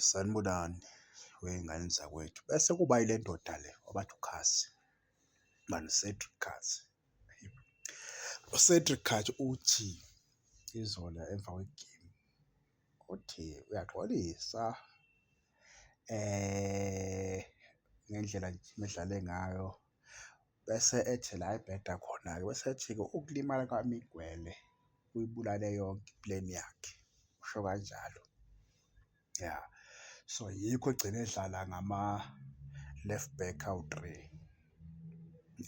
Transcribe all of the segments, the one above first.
Sanibonani wey'ngane zakwethu bese kuba yile ndoda le obathi uKhasi mani Cedric Khasi. UCedric Khasi uthi izolo emva kwegemu uthi uyaxolisa ngendlela nje medlale ngayo. Bese ethi la ebheda khona-ke bese ethi-ke ukulimala kwami igwele kuyibulale yonke i-plan yakhe, usho kanjalo. Ya, so yikho egcine edlala ngama-left back awu-three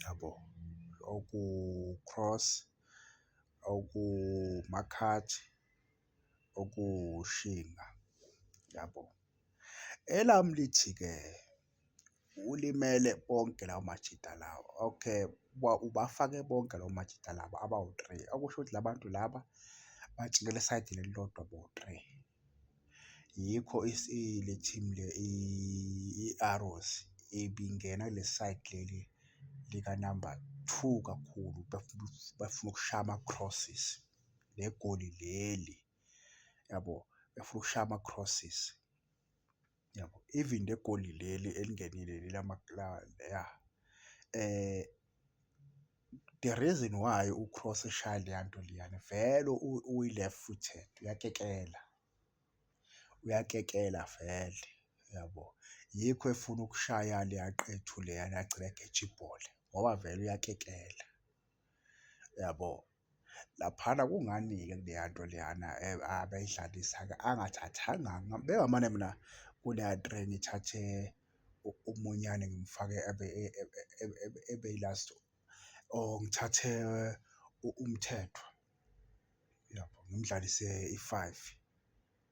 yabo, oku-Cross, okuMakhathi, okuShinga yabo. Elami lithi-ke. Ulimele bonke lawo majita lawa. Okay, ubafake bonke lawo majita lawa abawu-three. Okusho ukuthi la bantu laba bajikela esayidini elilodwa bowu-three. Yikho le team le i-Arrows ibingena kuleli sayidi leli likanamba two kakhulu befuna ukushaya ama-crosses negoli leli yabo, befuna ukushaya ama-crosses. Yabo even egoli leli elingenile leli ya the reason why u-Kroos eshaya leya nto leyana vele uyi-left footed uyakekela, uyakekela vele yabo. Yikho efuna ukushaya leya qethu leyana agcine egeja ibhola ngoba vele uyakekela. Uyabo? Laphana kungani-ke kuleya nto leyana abayidlalisa-ke angathathanga bengamane mina kuleya train ngithathe umunyane ngimfake abe ebe i-last or ngithathe umthethwa, uyabo? Ngimdlalise i-five,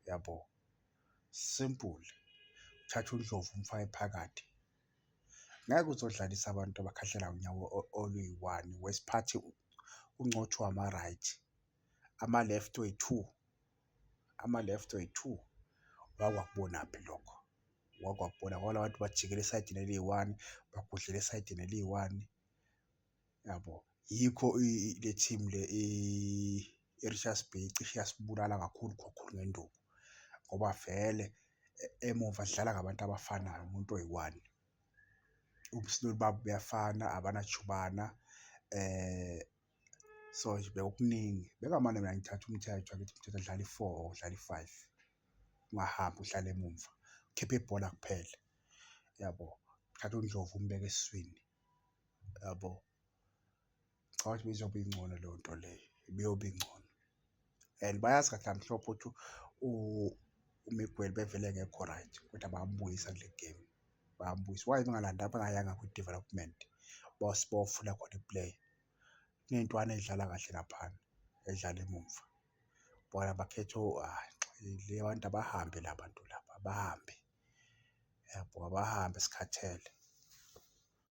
uyabo? Simple, uthathe uNdlovu umfake phakathi. Ngeke uzodlalisa abantu abakhahlela unyawo oluyi-one wesiphathi uncotshwa ama-right, ama-left oyi-two, ama-left oyi-two. Ngake wakubonaphi lokho? Ngake wakubona ngoba la bantu bajikela esayidini eliyi-one, bagudluka esayidini eliyi-one. yabo yikho le team le i-Richards Bay cishe yasibulala kakhulu kakhulu ngenduku ngoba vele e, emuva sidlala ngabantu abafanayo umuntu oyi-one ubusnoli babo buyafana abanajubana eh so nje bekukuningi bekamane mina ngithatha umthetho angithi umthetho adlala i-four or udlala i-five ungahambi uhlale emumva khiphe ibhola kuphela yabo thatha undlovu umbeke esiswini yabo. Ngicabanga ukuthi ibizobe ingcono leyo nto leyo ibiyobe ingcono and bayazi kahle kamhlophe ukuthi uMiguel ubevele engekho right kodwa bayambuyisa kule game bayambuyisa. Why bengalanda bengayanga kwi-development bayofuna khona i-player kuney'ntwana ey'dlala kahle laphana edlala emumva bona bakhethe le abantu abahambe la bantu laba abahambe yabo abahambe sikhathele.